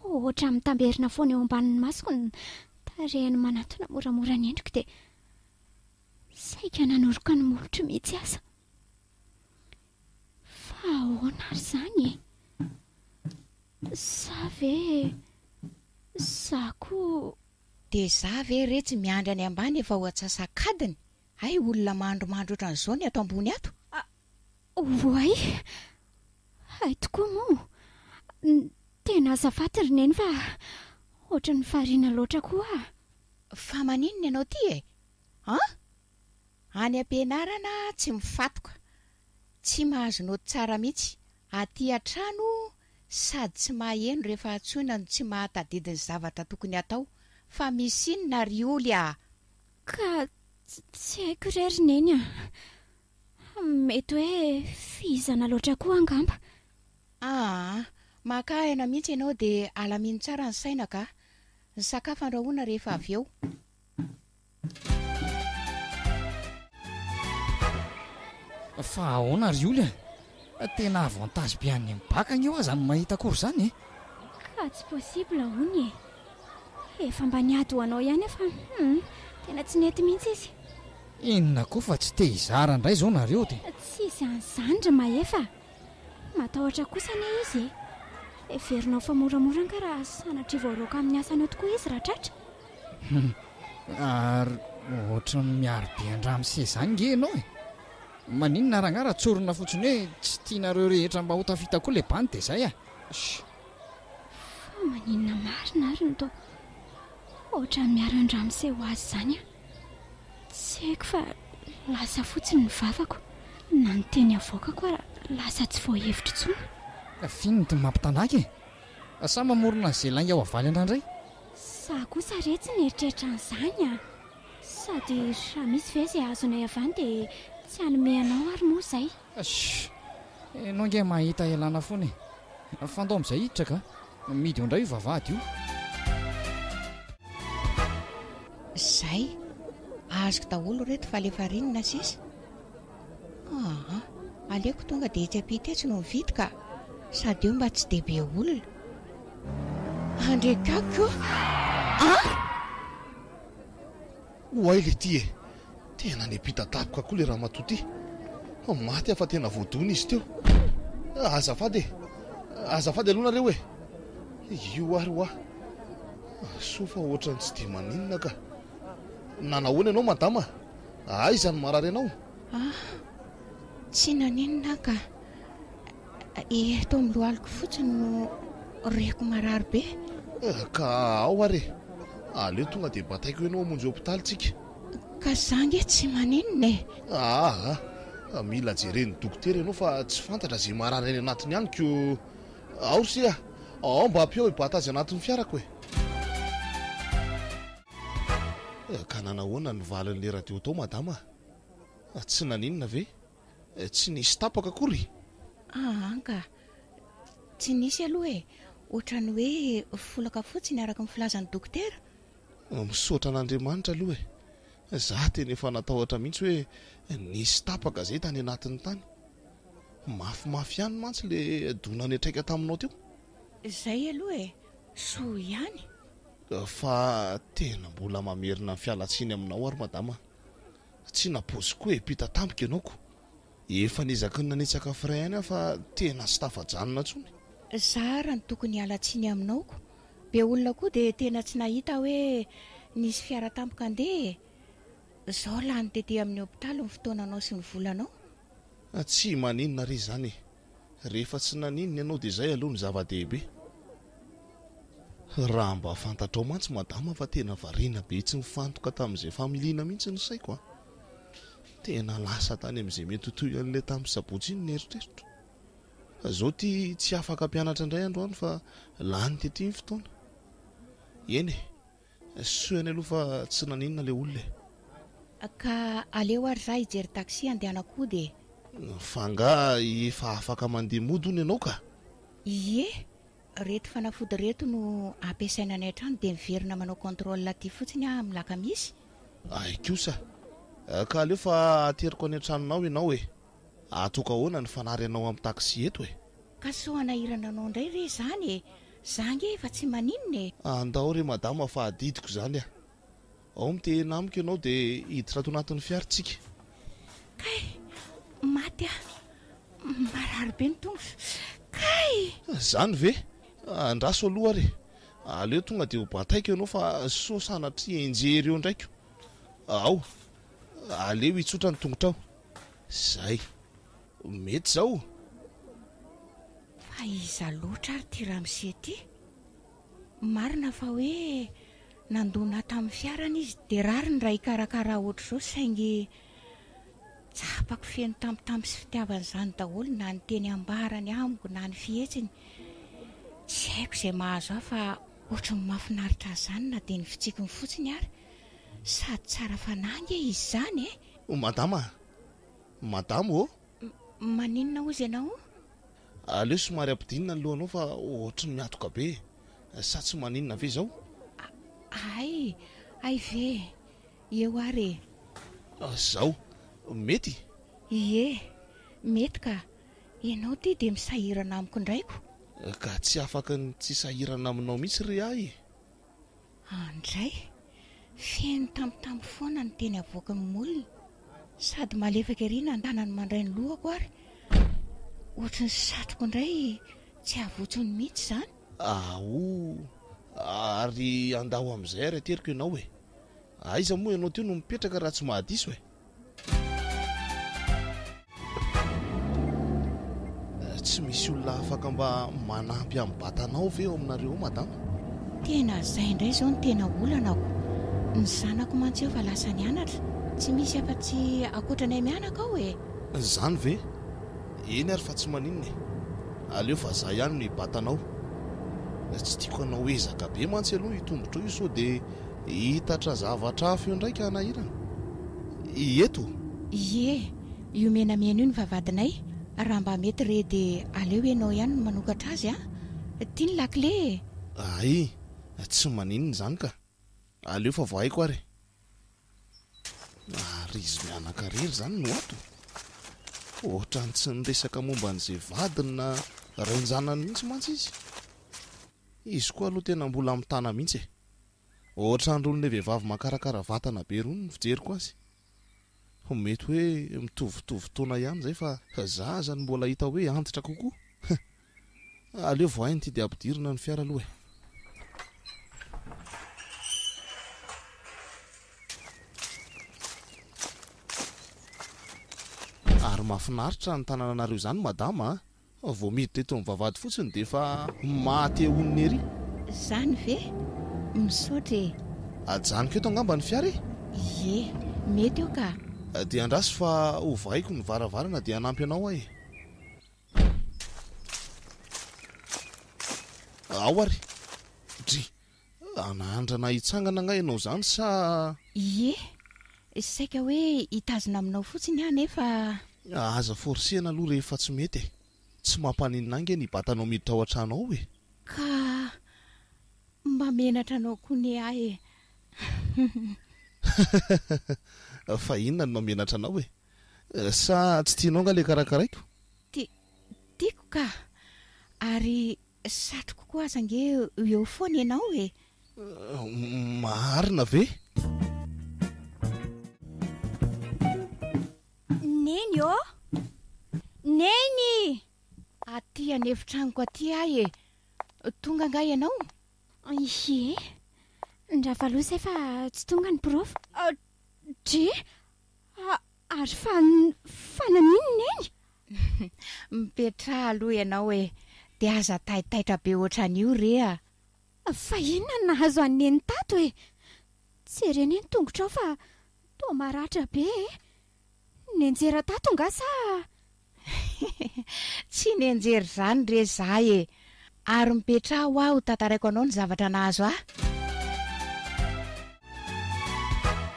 ohatry ny mitamberina foana eo ambanin'ny masoko ny tarehin'ny manatona moramora ny endriko dia Saika nanoroka ny molotro mihitsy aza. Fa ahoana ary izany e? Sa ve za koa. Dia za ve re tsy miandry any ambany efa ho atsasak'adiny? Hay olona mandrimandry ohatran'izao ny ato ambony ato. A, oay. Hay tokoa moa. Tena azafady ry Neny fa ohatran'ny variana loatra koa aho. Fa maninona ianao ity e? An! Any am-pianarana tsy mifatoka, tsy mahazo naoty tsara mihitsy, aty an-trano sady tsy maheno rehefa antsoina no tsy mahatadidy ny zavatra tokony hatao, fa misy inona ry Oly a! Ka tsy haiko re ry Neny a! Mety hoe fihizana loatra koa angamba. Aa! Maka aina mihitsy ianao dia alamino tsara ny saina ka! Ny sakafo andrahoina rehefa avy eo. Fa ahoana ry Oly a! Tena avantage be an'ny mibaka anie ho'aho izany mahita akory izany e! Ka tsy possible hono e! Efa mba niady ho anao ihany aho fa hum! Tena tsy nety mihitsy izy. Inona koa fa tsy te hizara indray izao nareo dia. Tsisy an'izany ry Mahefa a! Matahotra kosa anie izy e! Heverinao fa moramora angaha raha sanatria voaraoka amin'ny asany ao tokoa izy raha tratra? Humm, ary ohatran'ny miaro be an-dramose izany nge ianao e! Maninona rangah raha tsorina fotsiny hoe tsy tianareo rehetra mba ho tafita koa ilay bandy dia izay a! Shh! Fa maninona marina ary no toa ohatran'ny miaro an-dramose ho azy izany aho? Tsy haiko fa lasa fotsiny ny vavako, na ny teny avoakako ara lasa tsy voahevitra intsony. F'inona no mampitandaka e! Sa mamorona an'izay lainga ho avaly anao indray? Za kosa re tsy nieritreritra an'izany a! Sady raha misy ve izay azonay avy any dia tsy hanome anao ary moa izay? Sh! Ianao ange mahita ialana foana e! Fandao amin'izay hiditra ka! Midy eo indray io vavahady io! Zay! Azoko daholo ireto fa alefa rinona sisa. Aa! aleoko tonga dia etsy ampita etsy no mividy ka! sady eo mba tsy dia be olona! Andry Kak o! An! Oay le ty e! tena niampita daboka koa le ramatoa ty! maty aho fa tena voadona izy teo! azafady e! azafady aloha nareo e! io ary hoa! soa fa ohatran'ny tsy dia maninona ka! Nanahoana ianao madama? Aiza no marary anao? Ah, tsy naninona aho ka. Eto amin'ny lohaliko fotsiny no reko marary be. Eh, ka ao ary e. Aleo tonga dia bataiko ianao hamonjy hopitaly tsika. Ka za ange tsy maninona e. Ah ah, mila jeren'ny dokotera ianao fa tsy fantatra izay marary any anatiny any ko. Ao ry se a, ao mba ampio i Bata azy anatin'ny fiarako e. Eh, ka nanahoana ny valin'ilay radio tao madama? Ah, tsy naninona ve? Eh, tsy nisy tapaka akory? Ah, anga. Tsy nisy aloha e. Ohatran'ny hoe folaka fotsiny araka ny filazan'ny dokotera. Ah, misaotra an'Andriamanitra aloha e. Zah tena efa natahotra mihitsy hoe nisy tapaka zay tany anatiny tany. Mafimafy ihany mantsy le dona niatraika taminao teo. Zay aloha e. Soa ihany. Fa tena mbola mamerina ny fialantsiny aminao ary madama a! Tsy napoiziko koa e, mpita tampoka ianao ko! Efa niezaky ny nanitsaka frais ihany aho fa tena tsy tafajanona intsony. Za ary no tokony hiala tsiny aminao ko! Be olona koa dia tena tsy nahita hoe nisy fiara tampoka handeha e! Zao lany tety amin'ny hopitaly ny fotoananao sy ny volanao. Tsy maninona re izany e! Rehefa tsy naninona ianao dia izay aloha no zava-dehibe. Raha mba fantatrao mantsy madama fa tena variana be tsy nifantoka tamin'izay familiana mihitsy ny saiko a! Tena lasa tany amin'izay mety ho toy an'ilay tamin'ny sabotsy iny ny eritreritro. Fa izao ity tsy afaka hampianatra indray androany fa lany tety ny fotoana. Eny e! Soa ihany aloha fa tsy naninona ilay olona e. Ka aleo ary za hijery taxi handehanak'ody e. Fa angaha efa afaka mandeha mody hono ianao ka? Ie, reto fanafody reto no ampiasaina any an-trano dia miverina manao contrôle aty fotsiny aho amin'ny lakamisy. Ay kosa. Ka aleo fa ateriko any an-tranonao ianao e. Ataoko ahoana ny fanary anao am taxi eto e? Ka sao hanahirana anao indray ve izany e? Za ange efa tsy maninona e! Andao re madama fa adidiko izany a! Ao mitehena amiko ianao dia hiditra ato anatin'ny fiara isika. Kay! Maty aho! Marary be ny tongotra! Kay! Izany ve? Andraso aloha ary e! Aleo tonga dia ho bataiko ianao fa sao sanatria enjehy ireo indraiko! Ao! Aleo hitsotra ny tongotrao. Zay. Mety zao. Fa iza loatra ary ty ramose ty? Marina fa hoe nandona tamin'ny fiarany izy dia rariny raha hikarakara ohatr'izao saingy tsapako feno tambitamby sy fitiavana izany daholo na ny teny ambarany amiko na ny fihetsiny. Tsy haiko izay mahazo ahy fa ohatry ny mahafinaritra ahy izany na dia ny fitsikiny fotsiny ary. Sady tsara fanahy ange izy izany e! O madama a! Madama ô! M, maninona ozy ianao? Aleo somary ampidinina ny lohanao fa ohatry ny miatoka be e! Sa tsy maninona ve izao? A, hay, hay ve! Eo ary e! Izao, mety? Ie, mety ka! Ianao ity dia misahirana amiko indray ko! Ka tsy afaky ny tsy sahirana aminao mihitsy re ahy e! Handray! Feno tambitamby foana ny teny avoakin'ny molony. Sady malefaka ery ny andanany mandray ny lohako ary ohatry ny satroko indray tsy havotsony mihitsy izany. Aoa, ary andao amin'izay ary ateriko ianao e! Aiza moa ianao teo no mipetraka raha tsy mahadiso e? Tsy misy olona afaka mba manampy amin'ny batanao ve ao aminareo ao madama? Tena izay indray izao no tena olana ao. Ny zanako mantsy efa lasa nianatra, tsy misy afa-tsy ankoatranay mianaka ao e! Izany ve? Eny ary fa tsy maninona e! Aleo fa izaho ihany no hibata anao. Tsy tiako hanao ezaka be mantsy aloha io tongotrao io sao dia Hiitatra zavatra hafa eo indray ka hanahirana. Ieto. Ie, io menamena io ny vavahadinay, raha mba mety re dia aleo ianao ihany no manokatra azy a! Ty ny lakile e! Ay, tsy maninona izany ka! Aleo fa vao haiko ary. Ary izy mianaka irery izany no ato? Ohatran'ny tsy niresaka momba an'izay vadiny na ren-janany mihitsy mantsy izy. Izy koa aloha tena mbola mitana mihitsy e! Ohatran rony le vehivavy makarakara vatana be rony ny fijeriko azy. Ho mety hoe mitovitovy taona ihany zay fa za azany mbola hita hoe antitra kokoa. Huh. Aleo voahay ny tidy ampidirina ny fiara aloha e. Ary mafinaritra ny tanananareo izany madama a. Vao miditra eto amin'ny vavahady fotsiny dia efa maty eo honina ery. Izany ve? Misaotra e! Ajanoko eto angamba ny fiara e! Ie, mety eo ka! Dia andraso fa hovahiko ny varavarana dia hanampy anao aho e! Ao ary! Dry! Anandrana hitsangana angaha ianao izany sa. Ie, saika hoe hitazona aminao fotsiny aho nefa. Aza forcer-na aloha rehefa tsy mety e! Tsy mampaninona ange ny batanao miditra ao an-trano ao e! Ka mba menatra anao koa ne aho e! Fa inona no mahamenatra anao e? Sa tsy tianao angaha ilay karakaraiko? Ti, tiako ka! Ary Satriko koa aza ange eo foana ianao e! Marina ve? Neny ô! Neny! Aty an'efitranoko aty ahy e! Tonga angaha ianao? Ie! Ndravalo izay fa tsy tonga ny prof. Dry! Ary fa, fa naninona Neny? Mipetraha aloha ianao e! Dia aza taitaitra be ohatran'io re a! Fa inona no nahazo an'i Neny tato e? Tsy ere anie ny tongotrao fa toa maratra be e! Nianjera tato nga sa? Tsy nianjera izany re za e! Ary mipetraha hoa ho tantaraiko anao ny zavatra nahazo ahy.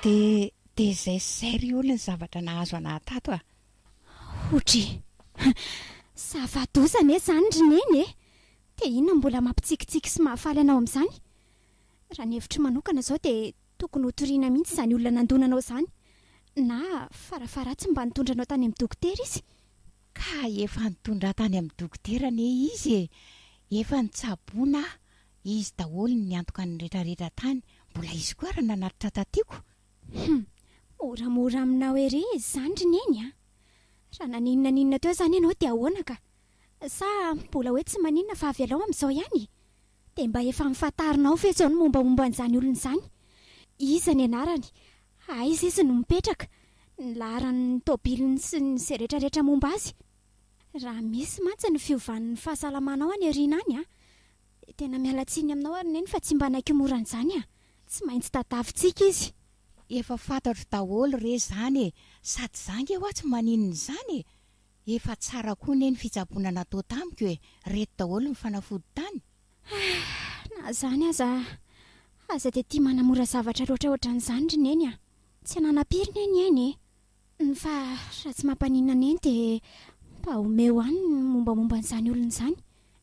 Dia dia zay sy zay ry oly ny zavatra nahazo anah tato a! Hodry! Zava-doza anie izany ry Neny e! Dia inona no mbola mampitsikitsiky sy mahafaly anao amin'izany? Raha ny hevitro manokana izao dia Tokony ho toriana mihitsy izany olona nandona anao izany na fara faharatsiny mba nitondra anao tany amin'ny dokotera izy. Ka efa nitondra ahy tany amin'ny dokotera anie izy e! Efa nitsaboana aho, izy daholo ny antoka ny rehetra rehetra tany, mbola izy koa ary nanatitra tatiko. Hum! Moramora aminao ery izany ry neny a! Raha naninona ninona teo izany ianao dia ahoana ka? Sa mbola hoe tsy maninona fa avelao amin'izao ihany e! Dia mba efa am'fantarinao ve izao ny mombamomba an'izany olona izany? Iza ny anarany? Aiza izy no mipetraka? Ny laharan'ny tôbiliny sy ny izay retraretra momba azy? Raha misy mantsy ny fiovan'ny fahasalamanao any aoriana any an! Dia tena miala tsiny aminao ary Neny fa tsy mba naikimorana izany an! Tsy maintsy tadiavintsika izy. Efa fantatro daholo re izany e! Sady za nge hoa tsy maninona izany e! Efa tsara koa ne ny fitsaboana natao tamiko e, reto daholo ny fanafody tany. Ahh, na izany aza, aza dia tia manamora zavatra loatra ohatran'izany ry Neny a! Tsy ananam-piry ne ny aina e! Ny fa raha tsy mampaninona Neny dia mba omeo ahy ny mombamomba an'izany olona izany,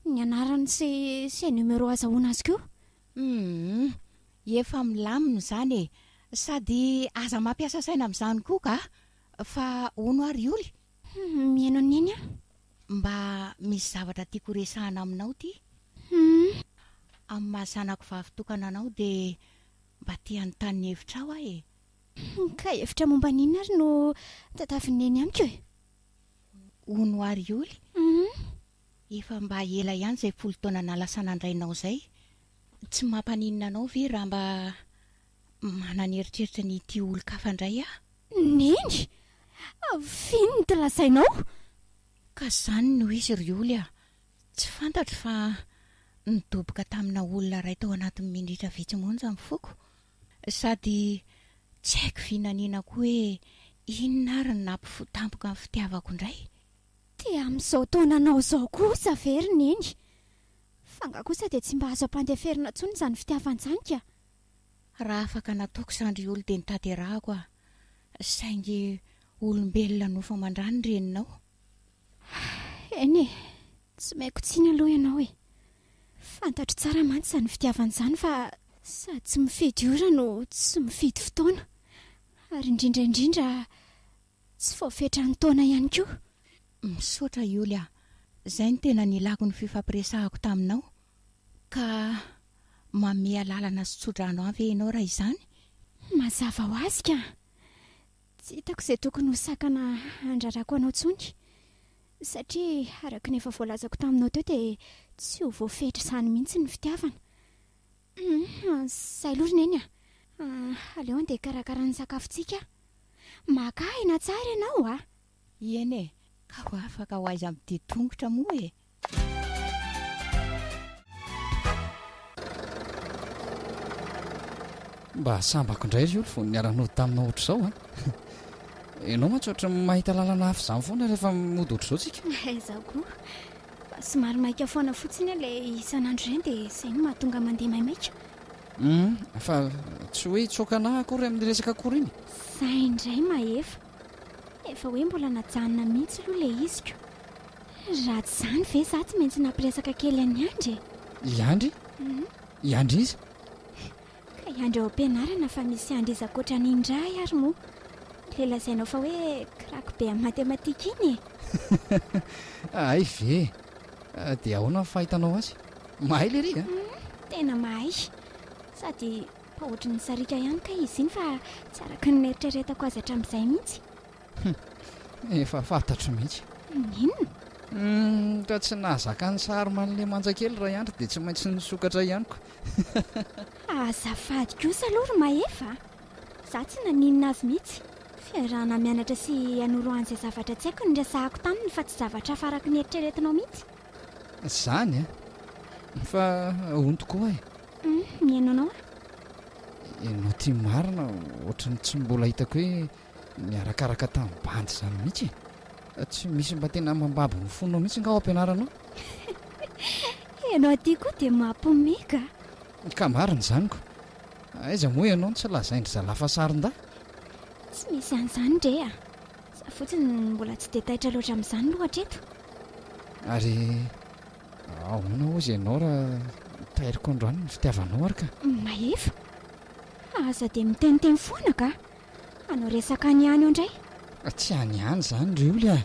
ny anarany sy sy numéro azahoana azy koa. Humm, efa milamina izany e! Sady aza mampiasa saina amin'izany koa kah! Fa hono ary ory? Hum, mihaino an'i Neny aho. Mba misy zavatra tiako horesahana aminao ty. Hum. Amin'ny maha zanako vavy tokana anao dia mba te hanontany ny hevitrao aho e. Hum, ka hevitra momba an'inona ary no tatavin'i Neny amiko e? Hono ary ory? Hum. Efa mba ela ihany izay folo taona nalasa nandrainao izay. Tsy mampaninona anao ve raha mba. Manana eritreritra ny hitia olon-kafa indray aho. Neny! F'inona ity lazainao? Ka izany no izy ry Oly a! Tsy fantatro fa nidoboka tamina olona iray tao anatin'ny minitra vitsy monja ny foko. Sady tsy haiko vinaniana koa hoe inona ary no nampifoha tampoka ny fitiavako indray. Dia amin'izao taonanao izao kosa ve ry Neny? F'angaha kosa dia tsy mba azo ampandeferina intsony izany fitiavana izany ka? Raha afaka nataoko zandry olo de nitaterahako ah saingy olombelona nofo aman-drano ny reninao. Eny e, tsy maiko tsiny aloha ianao e. Fantatro tsara mantsy izany fitiavana izany fa sady tsy mifidy ora no tsy mifidy fotoana ary indrindra indrindra Tsy vao fetran'ny taona ihany koa. Misaotra Yoly a! Zay no tena nilako ny fifampiresahako taminao ka mamehy alalana sy tsodrano ahy ve ianao raha izany? Mazava ho azy ka! Tsy hitako izay tokony ho sakana handrarako anao intsony satria araka ny efa voalazako taminao teo dia tsy ho voafetra izany mihitsy ny fitiavana. Izay aloha ry Neny a! Aleo andeha hikarakara ny sakafontsika a! Maka aina tsara ianao a! Eny e! Ka ho afaka ho aiza midia tongotra moa e! Mba sambako indray ry Oly vao niara-nody taminao ohatr'izao a! Ianao mantsy ohatran'ny mahita lalana hafa izany foana rehefa mody ohatr'izao tsika. Izaho koa. Somary maika foana fotsiny aho ilay isan'andro ireny dia izay no mahatonga mandeha maimaika. Hum, fa tsy hoe hitsoaka anà akory amin'ny resaka akory iny? Zay indray Mahefa. Efa hoe mbola najanona mihitsy aloha ilay iziko. Raha tsy izany ve izaho tsy maintsy nampiresaka kely an'i Andry e? I Andry? I Andry iza? Kay andry ao am-pianarana fa misy andry iza ankoatra an'i Indrahy ary moa? Ilay lazainao fa hoe crack be amin'ny matematika iny e! Hay ve? Dia ahoana ny fahitanao azy? Mahay lery a! Tena mahay! Sady mba ohatry ny sariaka ihany kay izy iny fa tsy araka ny neritreretako azy hatramin'izay mihitsy. Efa fantatro mihitsy. Inona? Raha tsy nahazaka ny sary malemanja kely Raiandry dia tsy maintsy nisokatra ihany koa. Fa azafady kosa aloha ry Mahefa a! Izaho tsy naninona azy mihitsy. Fiarahana mianatra sy hanoro an'izay zavatra tsy haiko no niresahako taminy fa tsy zavatra hafa araka ny eritreretinao mihitsy. Izany an! Fa ahoana tokoa e? Humm, mihaino anao aho. Ianao ity marina, ohatran'ny tsy mbola hitako hoe Niarakaraka tamin'ny bandy izany mihitsy e! Tsy misy mba tena mambabo ny fonao mihitsy nga ao am-pianarana ao? Ianao aty koa dia mampiomehy ka! Ka marina izany ko! Aiza moa ianao no tsy lazain-dry zalahy fa sarin-dahy? Tsy misy an'izany re a! Za fotsiny no mbola tsy dia taitra loatra amin'izany aloha hatreto. Ary ahoana hozy ianao raha tairiko androany ny fitiavanao ary ka? Mahefa! Aza dia miteniteny foana ka! Hanao resaka any ihany eo indray. Tsy any ihany izany ry oly a!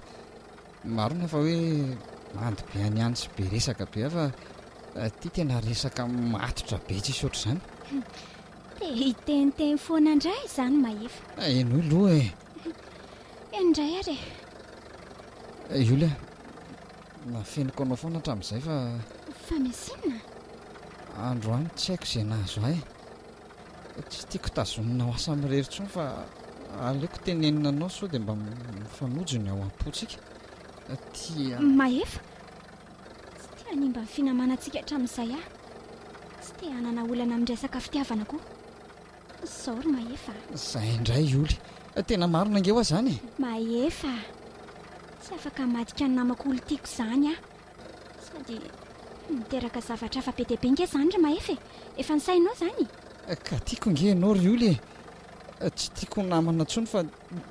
Marina fa hoe mando be any ihany sy be resaka be fa ity tena resaka matotra be tsisy ohatr'izany. Te hiteniteny foana indray izany Mahefa. Henoy loha e! Heno indray ary e! I Oly a! Nafeniko anao foana hatramin'izay fa. Fa misy inona? Androany tsy haiko izay nahazo ahy. Tsy tiako tazonina ho asa mirery intsony fa aleoko tenenina anao sao dia mba mifanojo ny ao am-pontsika. Tia. Mahefa, tsy te hanimba ny finamanantsika hatramin'izay aho. Tsy te hanana olana amin'ny resaka fitiavana koa. Izao ry Mahefa a. Izay indray i Oly. Tena marina ange ho'a izany e! Mahefa a! Tsy afaka hamadika ny namako Oly tiako izany aho. Sao dia miteraka zavatra hafa be dia be ange izany ry Mahefa e? Efa nisainao izany e? Ka tiako ange ianao ry Oly e! Tsy tiako ho namana intsony fa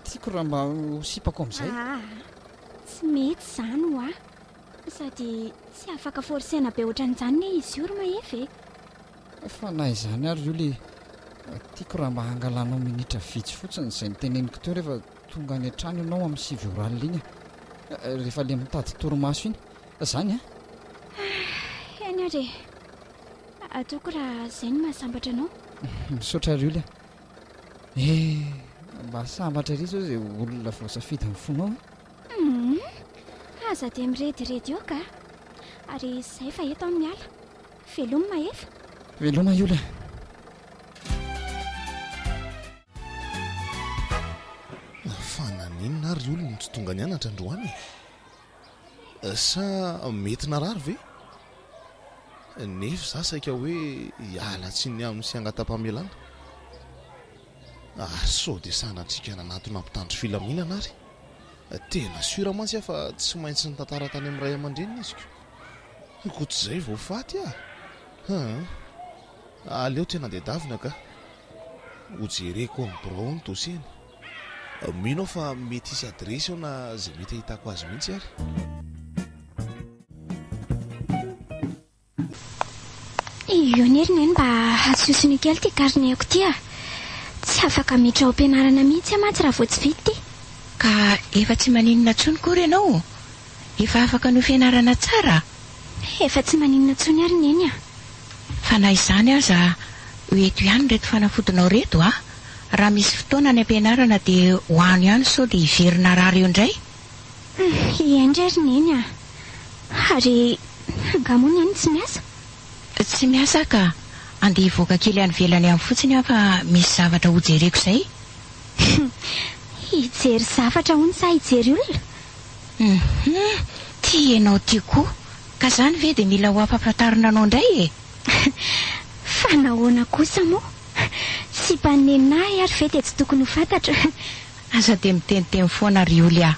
tiako raha mba ho sipako amin'izay. Aa! Tsy mety izany ho ahy. Sady tsy afaka forcer-na be ohatran'izany anie izy io ry Mahefa e! Fa na izany ary Julie e, tiako raha mba hangalanao minitra vitsy fotsiny izay niteneniko teo rehefa tonga any an-trano ianao amin'ny sivy orale iny a! Rehefa ilay mitady torimaso iny. Izany a! Ah, eny ary e! Ataoko raha izay no mahasambatra anao. Misaotra ary Julie a! Eh, mba sambatra ery izao izay olona voasafidy amin'ny fonao a! Hum, aza dia mirediredy eo kah! Ary izay fa eto aho miala. Veloma Mahefa. Veloma Yola a. Mafana nenina ary olona no tsy tonga nianatra androany e. Sa mety narary ve? Nefa za saika hoe hiala tsiny aminy sy hangata-pamelana. Ary sao dia sanatriaka nanatona mpitandro filaminana ary. Tena sûr mantsy aho fa tsy maintsy nitantara tany amin'ny ray aman-dreniny izy ko. Ankoatr'izay vao faty ah! Haa! Aleo tsy hanadihadavina ka! Ho jereko amin'ny birao ny dossier-ny. Mino aho fa mety hisy adiresy ao na izay mety hahitako azy mihitsy ary. Iona ery neny mba hasosony kely ity carnet-ko ity ah! Tsy afaka miditra ao am-pianarana mihitsy aho mantsy raha vao tsy vita ity. Ka efa tsy maninona intsony koa re ianao? Efa afaka noho fianarana tsara? Efa tsy maninona intsony ary Neny a! Fa na izany aza, ho eto ihany ireto fanafodinao ireto a! Raha misy fotoana any am-pianarana dia ho any ihany sao dia very narary eo indray! Hiainga ary Neny a! Ary angaha moa Neny tsy miasa? Tsy miasa ka! Andeha hivoaka kely any ivelany ihany fotsiny aho fa misy zavatra hojereko izay! Hijery zavatra hono sa hijery olona? Humm! Tia enao tia koa! Ka zany ve de mila ho ampafantarina anao ndray e! Fa nahoana kosa moa? Sipan'i Neninah ary ve dia tsy tokony ho fantatra? Aza dia miteniteny foana ry oly ah!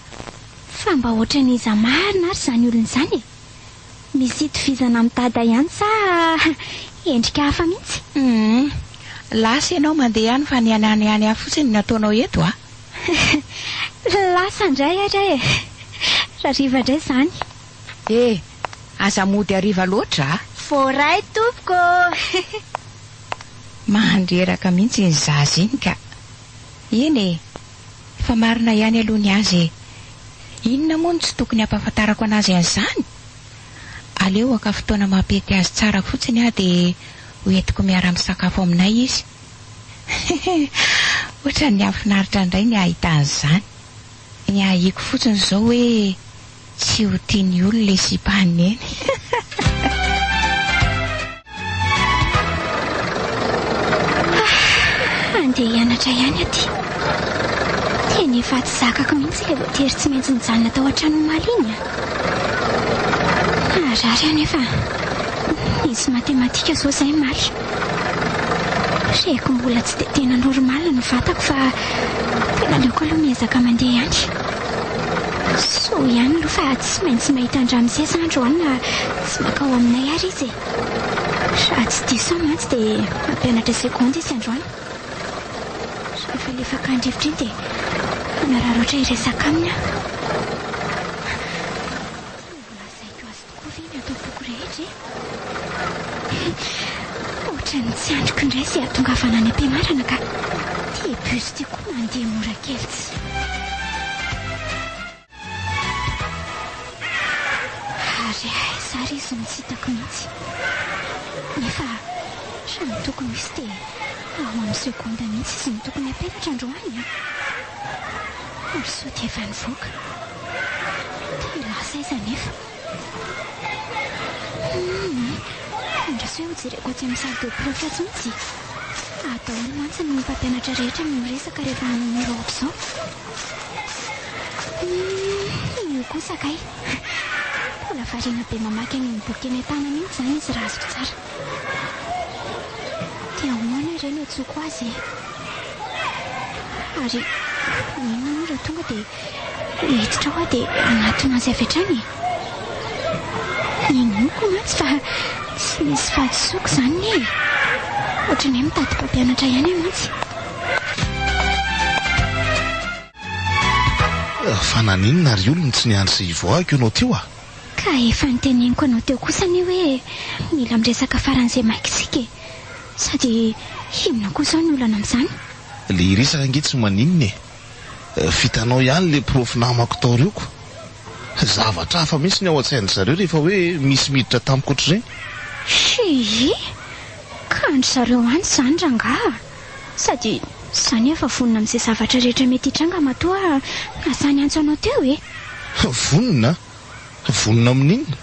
Fa mba ohatran'iza marina ary izany olona izany e! Misy itovizana amin'ny dada ihany sa endrika hafa mihitsy? Humm. Lasa ianao mandeha any fa ny an'any any hafa fotsiny no ataonao eto a! Lasa indray ary e! Rariva indray izany. E! Aza mody hariva loatra a! Voaray tompoko ô! Mandreraka mihitsy iny zaza iny ka! Eny e! Fa marina ihany aloha ny azy e! Inona moa no tsy tokony hampahafantarako anazy an'izany? Aleo haka fotoana mampety azy tsara fotsiny aho dia ho entiko miara-misakafo aminay izy. Hehe, ohatran'ny hahafinaritra indray ny hahita an'izany. Ny ahiako fotsiny izao hoe. Tsy ho tia ny olona le sipa an'i Neny. Andeha hianatra ihany aty. Tena efa tsy zakako mihitsy ilay voatery tsy maintsy nijanona tao an-trano omaly iny. Naharary aho nefa nisy matematika zao zay maly. Reko mbola tsy dia tena normal ny vatako fa tena aleoko aloha miezaka mandeha ihany. Soa ihany aloha fa tsy maintsy mahita an-dRamosesy andro any na tsy mankao aminay ary izy e. Raha tsy diso aho mantsy dia mampianatra seconde izy androany. Rehefa lefaka an-drivotra iny dia manararaotra hiresaka aminy aho. Koa ve ny ato am-poko rehetra e? He! Ohatran'ny tsy andriko indray izay hatongavana any am-pianarana ka. Tia bus tia koa mandeha mora kely tsy. Ary aiza ary izy no tsy hitako mihitsy? Nefa samy tokony misy dia ao amin'ny seconde mihitsy izy no tokony hampianatra androany an! Ary sao dia efa nivoaka? Tena asa aiza anefa? Humm eh! Andraso hoe hojereko atsy amin'ny salle de prof atsy mihitsy e! Ary daholo mantsy ny mpampianatra rehetra no miresaka rehefa manao mur ohatr'izao. Humm io kosa kay! Mbola variana be mamaky an'iny boky eny an-tanana iny izany izy raha azoko tsara. Dia ahoana ireny antsoiko azy e? Ary inona moa raha tonga dia Miditra aho dia manatona azy avy hatrany e! Inoako mantsy fa tsy misy fahadisoako izany ne e! Ohatran'ny hoe mitady mpampianatra ihany aho mantsy. Fa naninona ry olona tsy niandry sy hivoahiko ianao teo a! Ka efa noteneniko anao teo kosa anie hoe mila miresaka faran'izay maika isika e! Sady inona koa izao ny olana amin'izany? Ilay hiresaka ange tsy maninona e! vitanao ihany le profy namako tao rioko fa zavatra hafa mintsy ny ao antsain-dry zareo rehefa hoe misy miditra tamiko ohatr'ireny. Hii! Ka an-dry zareo any izany rangaha a! Sady za anie efa vonona amin'izay zavatra rehetra mety hitranga matoa lasa niantso anao teo e! Vonona? Vonona amin'inona?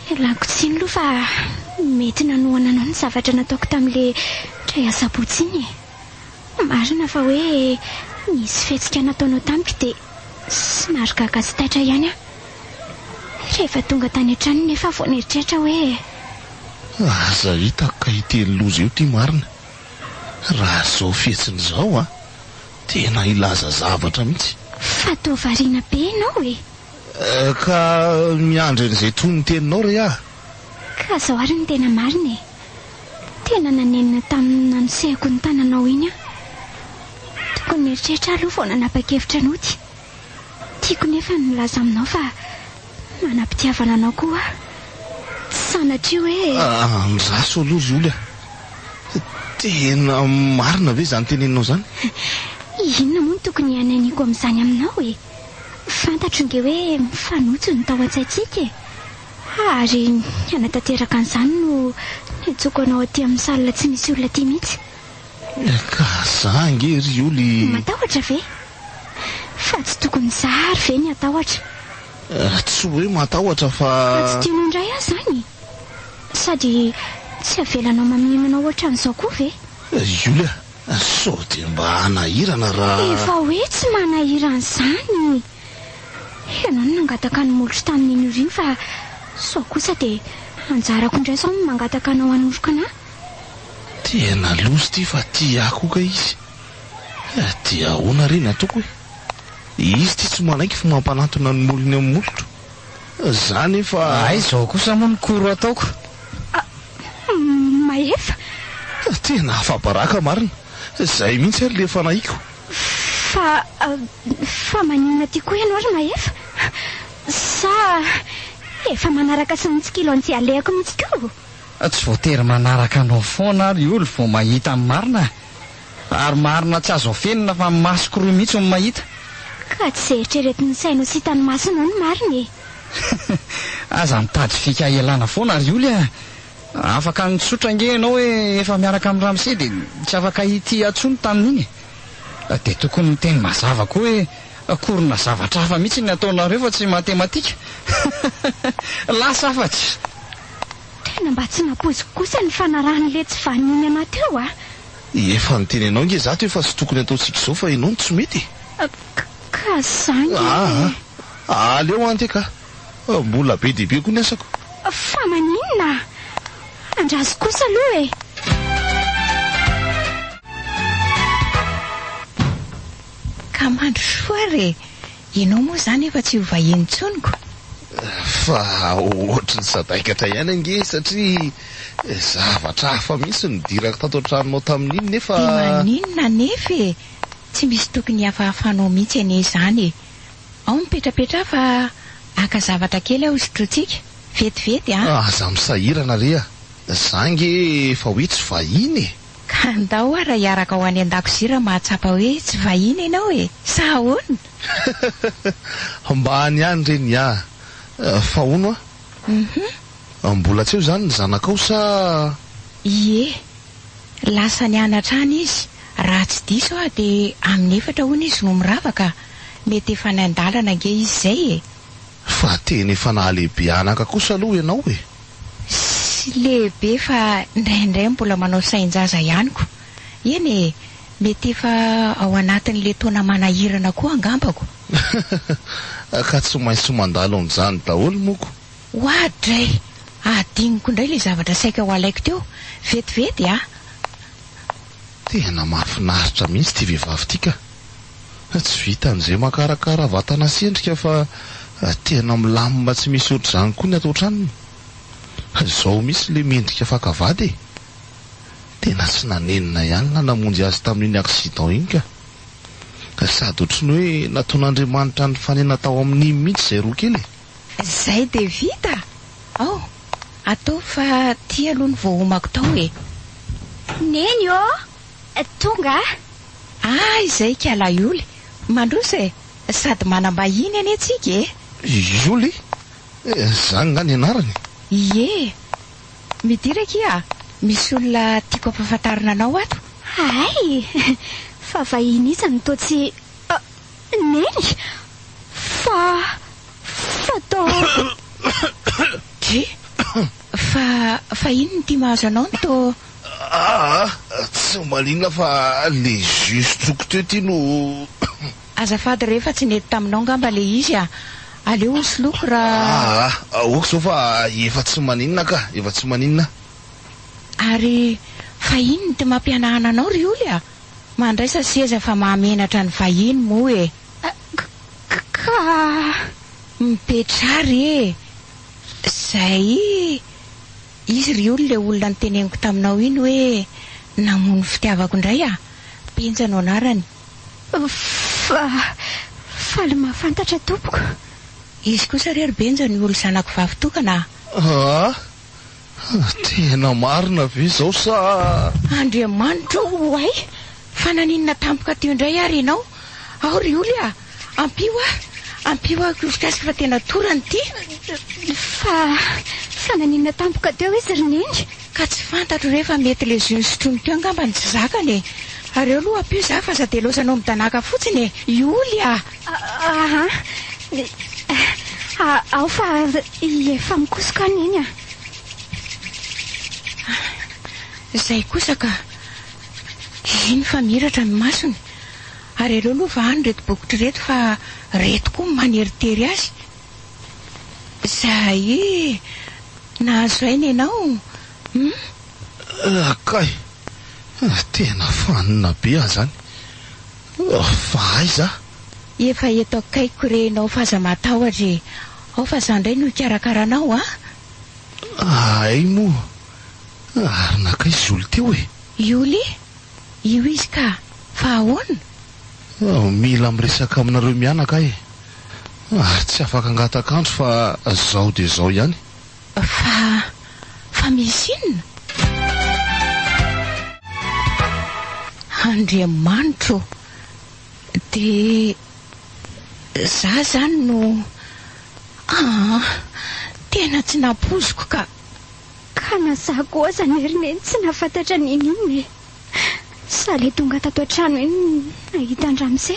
Ialako tsiny aloha fa mety nanohana anao ny zavatra nataoko tamin'ilay tray asabotsy iny e! Marina fa hoe nisy fihetsika nataonao tamiko dia somary gaga sy taitra ihany aho. Rehefa tonga tany an-trano nefa aho vao nieritreritra hoe. Aza hitako ka ity loza io ity marina. Raha izao fihetsiny izao an, tena hilaza zavatra mihitsy. Fa toa variana be ianao e! Ka miandry an'izay tohin'ny teninao re aho. Ka izao ary no tena marina e! Tena nanenina tamin'ny nanosehako ny tananao iny aho. Tokony nieritreritra aho aloha vao nanapa-kevitra ny hody. Tiako nefa ny milaza aminao fa manam-pitiavana anao koa aho. Tsy sanatria hoe. Andraso aloha ry oly a! Tena marina ve izany teneninao izany? Inona moa no tokony hananiako amin'izany aminao e? Fantatro ange hoe mifanojo ny tao an-tsaintsika e! Ha, ary hanatanteraka an'izany no niantsoako anao aty amin'ny salle tsy misy olona aty mihitsy. Ka za ange ry Oly. Matahotra ve? Fa tsy tokony za ary ve ny hatahotra? Tsy hoe matahotra fa. Fa tsy tianao indray aho izany? Sady tsy avelanao mamimana ohatran'izao koa ve? Ry Oly a, sao dia mba hanahirana raha. Efa hoe tsy manahirana izany. Ianao no nangataka ny molotro tamin'iny ora iny fa sao kosa dia anjarako indray sao ny mangataka anao hanoroka anah? Tena loza ity fa tia ahy koa kay izy eh, dia ahoana re ny ataoko eh? Izy ity tsy manaiky fa mampanantona ny molony amin'ny molotro, za nefa. Hay izao kosa moa ny koro ataoko. Ah, Mahefa. Tena afa-baraka marina, izay mihitsy ary ilay fanahiako. Fa, fa maninona aty koa ianao ry Mahefa? Sa efa manaraka sy mitsikilo an'ity alehako mihitsy koa? Tsy voatery manaraka anao foana aho ry Oly vao mahita ny marina e! Ary marina tsy azo afenina fa ny masoko roa mihitsy no mahita. Ka tsy izay eritreretin'ny sainao sy hitan'ny masonao no marina e! Aza mitady fika hialana foana ry Oly a! Afaka nitsotra ange ianao hoe efa miaraka amin'i Ramsey dia tsy afaka hitia intsony tamin'iny e! Dia tokony miteny mazava koa hoe akorina zavatra hafa mihitsy ny ataonareo fa tsy matematika! Lasa afatsy! Tena mba tsy nampoiziko kosa ny fanarahan'i letsy vaniny anà teo a! Efa niteny anao ange izaho teo fa tsy tokony ataontsika izao fa ianao no tsy mety e! Ka, ka za ange e! Aa! Aleo anty e ka! Mbola be dia be koa ny asako. Fa maninona? Andraso kosa aloha e! Ka mandry soa re! Ianao moa izany efa tsy ho vahiny intsony ko! Fa ohatry ny sadaikatra ihany ange satria zavatra hafa mihitsy no nidirako tato an-tranonao tamin'iny nefa. Dia maninona anefa e! Tsy misy tokony hihafahafanao mihitsy anie izany e! Ao mipetrapetraha fa haka zavatra kely aho sotrointsika, vetivety an! Aza misahirana re a! Za nge efa hoe tsy vahiny e! Ka ndao ara hiaraka ao any an-dakozia raha mahatsapa hoe tsy vahiny ianao e! Sa ahoana? Hahahahha! Mba any ihany re ny ahy fa hono a! Uhum. Mbola tsy eo izany ny zanakao sa? Ie, Lasa nianatra any izy, raha tsy diso aho dia amin'ny efatra hono izy no mirava ka, mety efa any an-dalana ange izy izay e! Fa tena efa nahalehibe anaka kosa aloha ianao e! Tsy lehibe fa indraindray mbola manao sain-jaza ihany ko! Eny e, mety efa ao anatin'ilay taona manahirana koa angambako! Ka tsy maintsy mandalo an'izany daholo moa ko! Oa dray! Hadinoko indray ilay zavatra saika ho alaiko teo. Vetivety a! Tena mahafinaritra mihitsy ity vehivavy ity ka! Tsy vitan'izay makarakara vatana sy endrika fa tena milamina tsy misy ohatr'izany koa ny ato an-tranony. Izao mihitsy ilay mendrika faka vady e! Tena tsy nanenina ihany ilay namonjy azy tamin'iny accident iny ka! Sady ohatry ny hoe nataon'Andriamanitra nifanena tao amin'iny mihitsy izay roa kely e! Zay de vita? Ao, ataovy fa ty aloha no voahomako tao e! Neny ô! Tonga a! Ah izay ikalahy Yoly! Mandroso e! Sady manam-bahiny anie tsika e! Yoly? Zany nga ny anarany? Ie! Midira akia a! Misy olona tiako ampahafantarina anao ato! Hay! Fa vahiny iza no toa tsy. Neny, fa, fa too. Dry, fa, fa inona ity mahazo anao ny too? Aa, tsy ho malinona fa le jus sotroiko teo ity no. Azafady re fa tsy nety taminao ngamba le izy a! Aleo ho soloiko ra. Aa, ok zao fa efa tsy maninona ka, efa tsy maninona. Ary, fa inona ity mampihanahana anao ry Oly a? Mandraisa seza fa mahamenatra ny vahiny moa e! Ka mipetraha re e! Zay izy ry olo le olona niteneniko taminao iny hoe namono ny fitiavako indray a! Benja no anarany. Fa faly mahafantatra tompoko. Izy kosa re ry Benja ny olo zanako vavy tokana a! Tena marina ve izao sa? Andriamanitra o! Oay! Fa naninona tampoka teo indray ary ianao? Ao ry Oly a! Ampio aho! Ampio aho koa gasy fa tena torana ity! Fa, fa naninona tampoka teo izy ry Neny? Ka tsy fantatro re fa mety le jus nisotroiny teo angamba no tsy zakany e! Ary ao aloha ampio za fa aza delozanao midanàka fotsiny e! I Oly a! Ao fa efa mikosoka an iny a. Izay kosa ka. Eny fa miratra ny masony. Ary aleo aloha vahany ireto bokotra ireto fa ireto koa maneritery azy. Zahay nahazo aina ianao hum. Kay, tena fanina be aho izany. Fa aiza? Efa eto akaikiko re enao f'aza matahotra e! Ao fa za ndray no hikarakara anao a! Ahay moa ary nankaiza i Joly teo e? Joly? Io izy ka! Fa ahoana? Mila miresaka aminareo mianaka aho e! Ary tsy afaka hangataka andro fa zao dia zao ihany. Fa, fa misy inona? Andriamanitra ô! Dia za zany no, aa! Tena tsy nampoiziko ka! Ka na za koa aza nerineny tsy nahafantatra niniana e! Za le tonga tato an-trano iny nahita an-dRamose,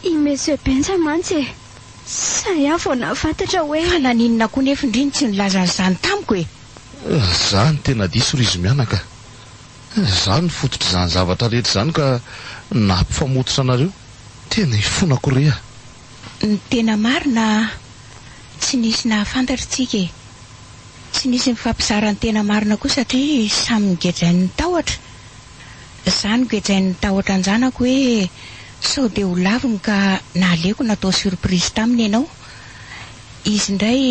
i Monsieur Benja mantsy e! Sahy aho vao nahafantatra hoe. Fa naninona koa nefy ndry no tsy nilaza an'izany tamiko e? Za no tena diso ry izy mianaka. Za no fototr'izany zavatra rehetra izany ka nahapifamototra anareo. Tena ifonako re a! Ny tena marina, tsy nisy nahafantatra tsika e. Tsy nisy nifampizara ny tena marina koa satria samy nigejain'ny tahotra. Za nogejain'ny tahotra an-janako hoe sao dia ho laviny ka naleoko natao surprise taminy ianao. Izy indray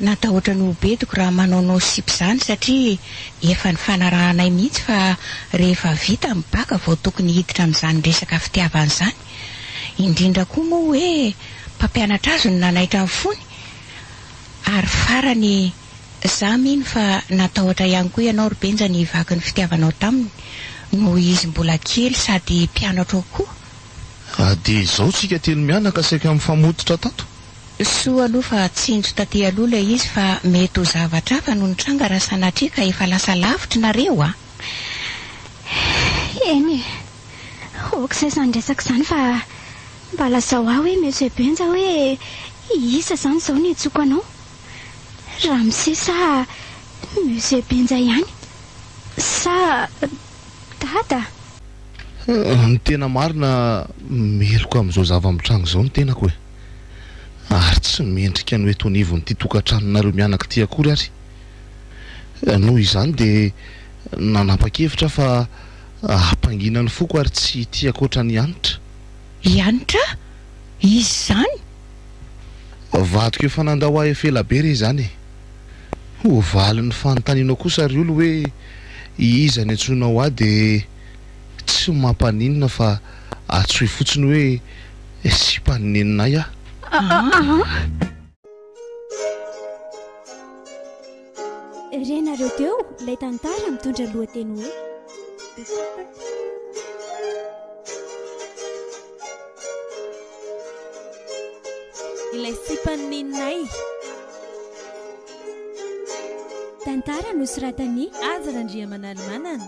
natahotra ny ho bediko raha manaonao sipa izany satria efa nifanarahanay mihitsy fa rehefa vita ny baka vao tokony hiditra amin'izany resaka fitiavana izany. Indrindra koa moa hoe mpampianatra azy no nanaitra ny fony ary farany Za mino fa natahotra ihany koa ianao ry Benja ny vaky ny fitiavanao taminy noho izy mbola kely sady mpianatro koa. Raha dia izao tsika telo mianaka saika mifamototra tato. Soa aloha fa tsinjo taty aloha ilay izy fa mety ho zavatra hafa no nitranga raha sanatria ka efa lasa lavitra nareo a! Eny e! ok zay izany resaka izany fa mba lazao ahy hoe Monsieur Benja hoe iisa izany izao no iantsoako anao? Ramose sa Monsieur Benja ihany? Sa Dada? Ny tena marina, meloka amin'izao zava-mitranga izao ny tenako e! Ary tsy mendrika ny ho eto anivon'ity tokantranonareo mianaka ity akory ary. Noho izany dia nanapa-kevitra aho fa hampangina ny foko ary tsy hitia ankoatra an'i Hanitra. I Hanitra? Izy izany? Vadiko efa nandao ahy efa ela be re izany e! Ho valin'ny fanontanianao kosa ry olo hoe iza ny antsoinao ahy dia tsy mampaninona fa atsoy fotsiny hoe sipan'ny neninay aho. Renareo teo ilay tantara mitondra lohateny hoe Ilay sipan'ny neninay. Tantara nosoratan'i Aza Randriamanalimanana.